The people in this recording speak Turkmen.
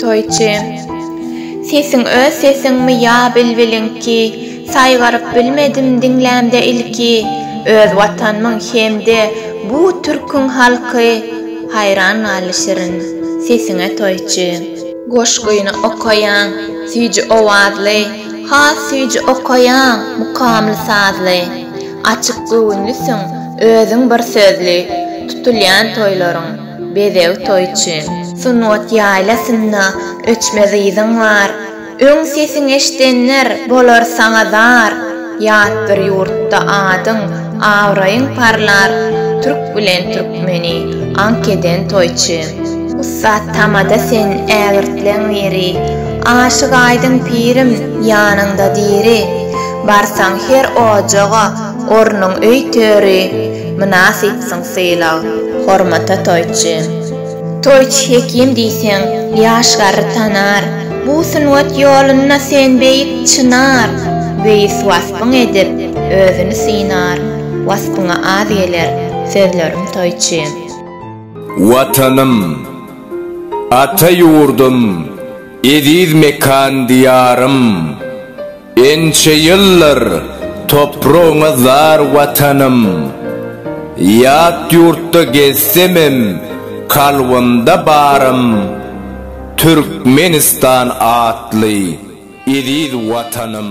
Toýçy Sesiň öz sesiňmi ýa bilbiliňki Saýgaryp bilmedim diňlämde ilki Öz watanmyň hem-de bu türküň halky Haýran galdy şirin sesiňe toýçy. Goşgyny okaýaň süýji owazly Has süýji okaýaň mukamly sazly Açyk göwünlisiň, özüň bir sözli, Tutulýan toýlaryň, bezeg toýçy. Sungat ýaýlasynda öçmez yzyň bar, Öň sesiň eşdenler bolar saňa zar. Ýat bir ýurtda adyň, abraýyň parlar, Türk bilen türkmeni aňk eden toýçy. Ussat tamada sen ägirtleň biri, Aşyk aýdyň pirim, ýanyňda diri. Barsaň her ojaga, ornuň öý-töri, mynasypsyň sylag, hormata toýçy. Toýçy hekim diýseň, ýaş garry tanar, bu sungat ýolunda sen beýik çynar. Beýis waspyň edip, özüni synar, waspyňa az geler, sözlerim toýçy. Watanym, ata ýurdum, eziz mekan-diýarym! Ençe ýyllar topragyňa zar Watanym, Ýat ýurtda gezsemem kalbymda barym, Türkmenistan atly eziz Watanym.